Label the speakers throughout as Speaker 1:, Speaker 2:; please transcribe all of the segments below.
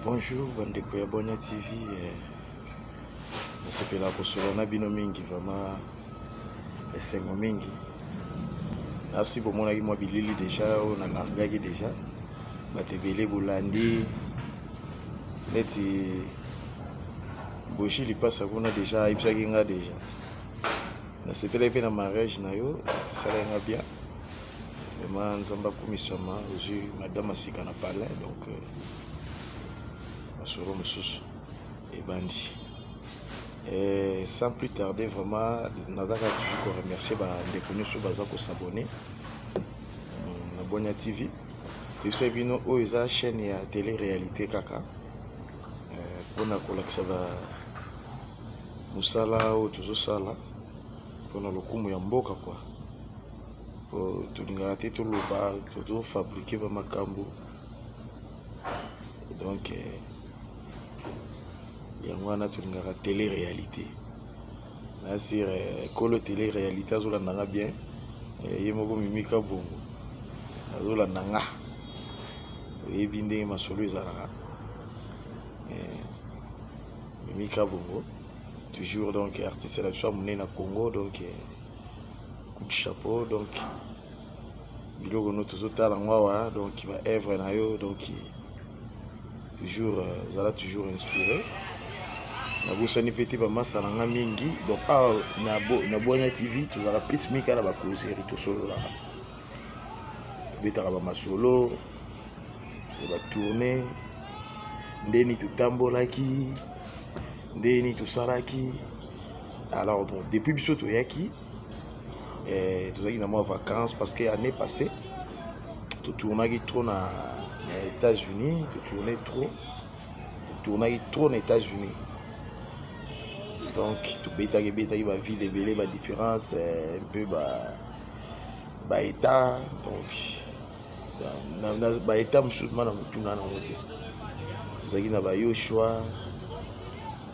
Speaker 1: bonjour bandeko ya bwania tv eh, nasepela kosolola na bino mingi vraiment esengo mingi nasi bomonaki mwa bilili deja oyo nalargaki deja bato ebele bolandi neti boshi lipasa kuna deja ayebisaki nga deja nasepelaki mpe na mariage na yo esalaki nga bien Vraiment Nzambe akumisama ozwi madame asika na palais donc euh, masolo mosusu ebandi. Et sans plus tarder vraiment nazaka toujours ko remercier ba ndeko nyonso baza ko s'abonner euh, na Bonia TV. Toyebisa bino oyo eza chaîne ya télé réalité kaka mpona euh, kolakisa ba mosala oyo tozosala mpona lokumu ya mboka kwa oh, tolingaka te toloba tozofabrike bamakambo donc eh, yango wana tolingaka tele réalité nasire eh, kolo tele réalité azolanda nga bien eh, ye moko mimika bongo azolanda nga oyebi ndenge masolo ezalaka mimika bongo toujours donc artiste na biso ya monene na congo donc coup de chapeau donc biloko no tozotala yango awa donc baœuvre na yo donc toujours euh, zala toujours inspiré nabosani mpe te bamasa na nga mingi donc awa na bwana tv tozalaka plus mingi kaka na bacauseri tosololaka tobetaka bamasolo ya batourne ndeni totambolaki ndeni tosalaki alors bon depuis biso toyaki eh, tozalaki na mwa vacances parce que année passée totournaki trop na, na états-unis totourne trop totournaki trop na états-unis donc tobetaki ebetaki baville ebele badifférence eh, mpe baétat donc baétat mosusu ma na motuna nango te tozalaki na bayoshua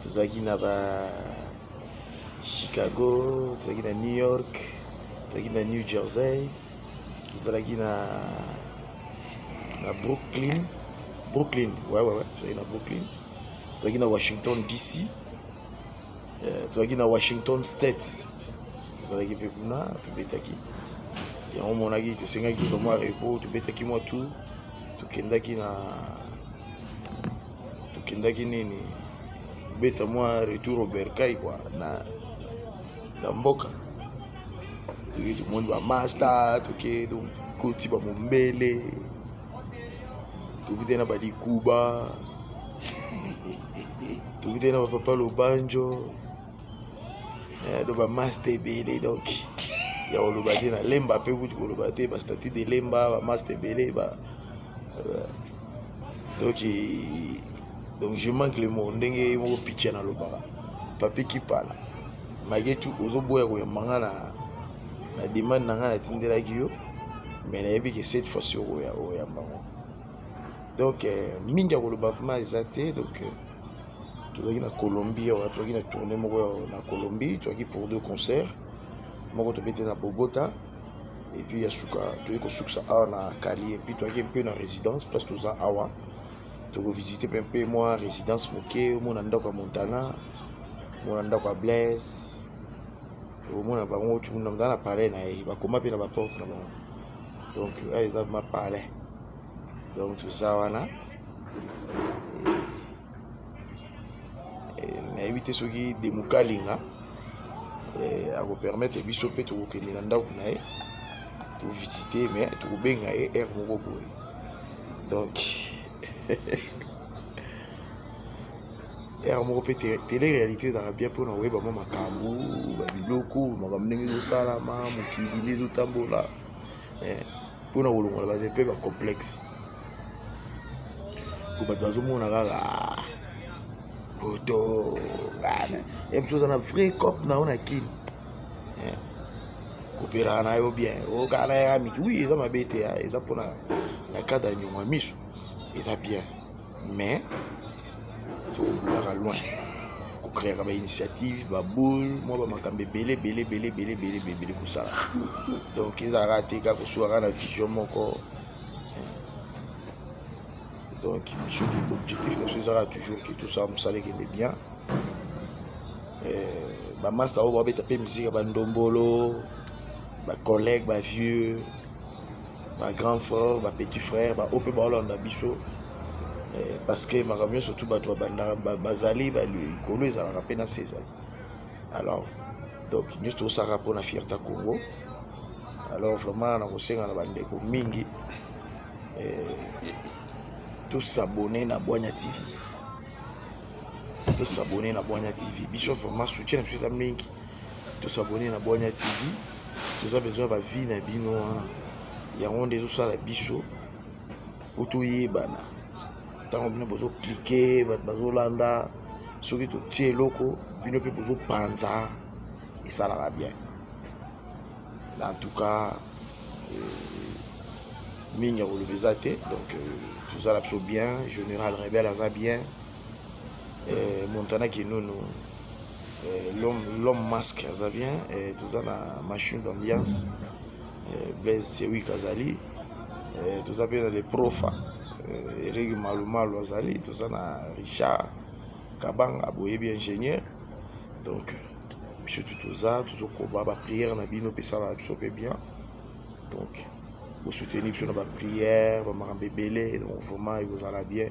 Speaker 1: tozalaki na ba chicago tozalaki na new york tozalaki na new jersey tozalaki na na brooklyn brooklyn ouais, ouais, ouais. tozalaki na brooklyn tozalaki na washington dc euh, tozalaki na washington state tozalaki mpe kuna tobetaki yango omonaki tosengaki tozwa mwa repo tobetaki mwa tour tokendaki na tokendaki nini beta mwa retour au bercail kua na, na mboka toke tomoni bamasta toke tokoti bamombele tokutani na balikuba tokutani na bapapa lobanjo eh, do bamasta ebele donc ya koloba te na lemba mpe kutu koloba te bastatut de lemba bamasta ebele ba, ba donc donc je manque le mot ndenge moko picha nalobaka papi kipala maketu ozoboya koyamba nga na na demande na nga natindelaki yo mais nayebi ke cette fois sur oya oyamba ngo donc euh, mingi ya koloba vraimen eza te donc euh, tozalaki na colombie awa tozalaki na tourne moko na colombie tozalaki pour deux concert moko tobete na bogota et puis ya suka toye kosukisa awa na kali epuis toyaki mpe na résidence place toza awa tokovisite mpe mpe mwa résidence moke omona ndako ya montana omona ndako ya blaise omona bango naza na palais na ye bakoma mpe na baporte na bango donc eza ma palais donc toza wana eh, nayebi te soki demukalinga eh, akopermettre biso mpe tokokende na ndako na ye tovisite me tokobenga ye aire moko boye donc aire moko mpe tele réalité ezalaka bien mpona koyeba mwa makambo babiloko makambo ndenge ezosalama mokili nde ezotambola eh, mpo na kolongola baza mpe bacomplexe mpo bato bazomona kaka ah, poto epusi oza na vrai cop na yo na kini eh, kopelaka na yo bien okala ya miki wi eza mabe te ah, eza mpona na cadre ya nyongo ya miso eza bien mais tokobundaka loin kokreaka bainitiative baboule mwa bamakambo ebele ebele ebele ebele ebele ebele ebele kosala donc ezalaka te kaka kosuaka na vision moko donc biso objectif na biso ezalaka toujours ke tosala mosala ekende bien bamasta oyo babeta mpe miziki ya bandombolo bacollègue bavieux ba grand frère ba petit frère ba ope ba olanda biso eh, parce que makambo nyonso tu bato babandaka bazali likolo ezalaka mpe na se ezali alors donc nyonso tosalaka mpo na fierté congo alors vraiment nakosenga na bandeko mingi eh, tosabone na bwanya tv tosabone na bwanya tv biso vraiment soutien na biso eza mingi tosabone na bwanya tv toza besoin bavie na bino wana yango nde ezosala biso po toyebana ntango bino bozoklike bato bazolanda soki totie eloko bino mpe bozopanza esalaka bien na en tout cas euh, mingi ya koloba eza te donc euh, toza na biso bien général rebel aza bien eh, montana kinunu eh, l'homme masque aza bien eh, toza na machine d'ambiance eh, blaise sewik azali eh, toza mpe na le profa eh, eregi malumalu azali toza na richard kabanga boyebi ingénieur donc biso tu toza tozokoba baprière na bino mpe esalaka biso mpe bien donc bosoutenir biso na baprière bamakambo ebele donc vraiment ekozala bien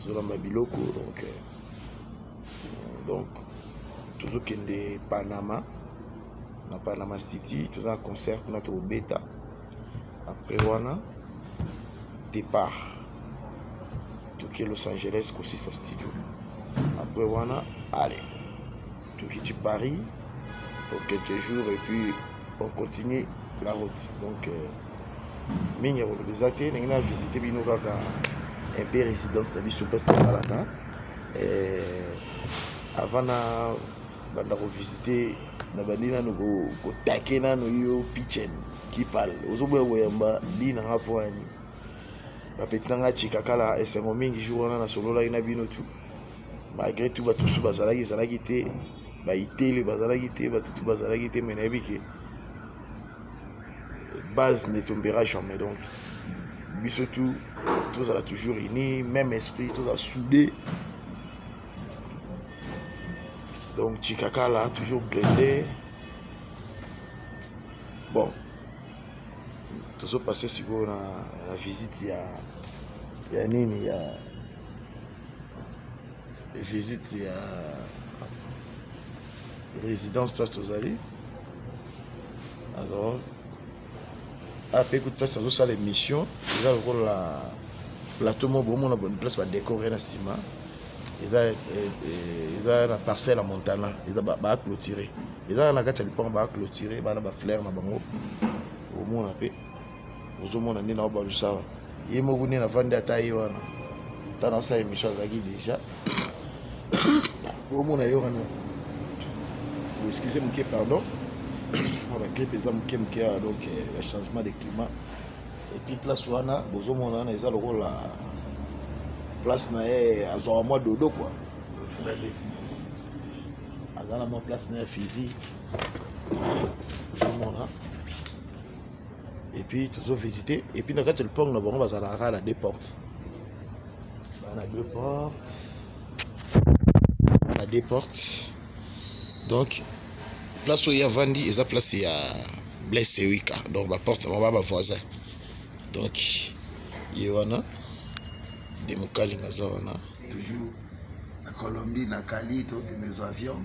Speaker 1: tozolamba biloko donc euh, donc tozokende panama na panama city toza na concert kuna tokobeta après wana départ toke los angeles kosisa studio après wana allez tokiti paris pour quelques jours et puis on continue la route donc euh, mingi ya koloba eza te ndenge na visite bino kaka un peu résidence na biso place tosalaka euh, avant na banda kovisite na bandi nano kotake nano yo pichen kipal ozoboya koyamba li na nga mpo ya nini bapeti na nga chikakala esengo mingi jour wana nasololaki na bino tout malgré tout bato mosusu bazalaki ezalaki te baitele bazalaki te bato tu bazalaki te me nayebi ke base ne tombera jamais donc biso tout tozala toujours unis même esprit tozala soudé donc chikakala toujours blende bon tozopasse sikoyo na, na visite ya ya nini ya visite ya résidence place tozali alors ape ah, kutu place azosala émission eza lokola plateau moko bomona boni place badécore na nsima eza eh, eh, eza na parcelle ya montana eza baclôture eza na kati ya lipango baclôture bana bafleur na bango omona mpe ozomona nde naobalusaka ye moko nde navandi ata ye wana ata nasala émission azalaki déjà omona ye wana excuse moke pardon mwa bagripe eza moke moke awa donc eh, ba changement de climat epuis place wana bozomona wana eza lokola place na ye azwaka mwa dodo kua aza na mwa place na ye fizi ozomona epuis tozo visite epuis na kati ya lopango na bango bazalaka na deux porte bana deux porte na deux porte donc place oyo ye avandi eza place ya blaise ewika donc baporte yango ba bavoisin donc ye wana de mokalinga aza wana toujours na colombie na kali tokende zwa avion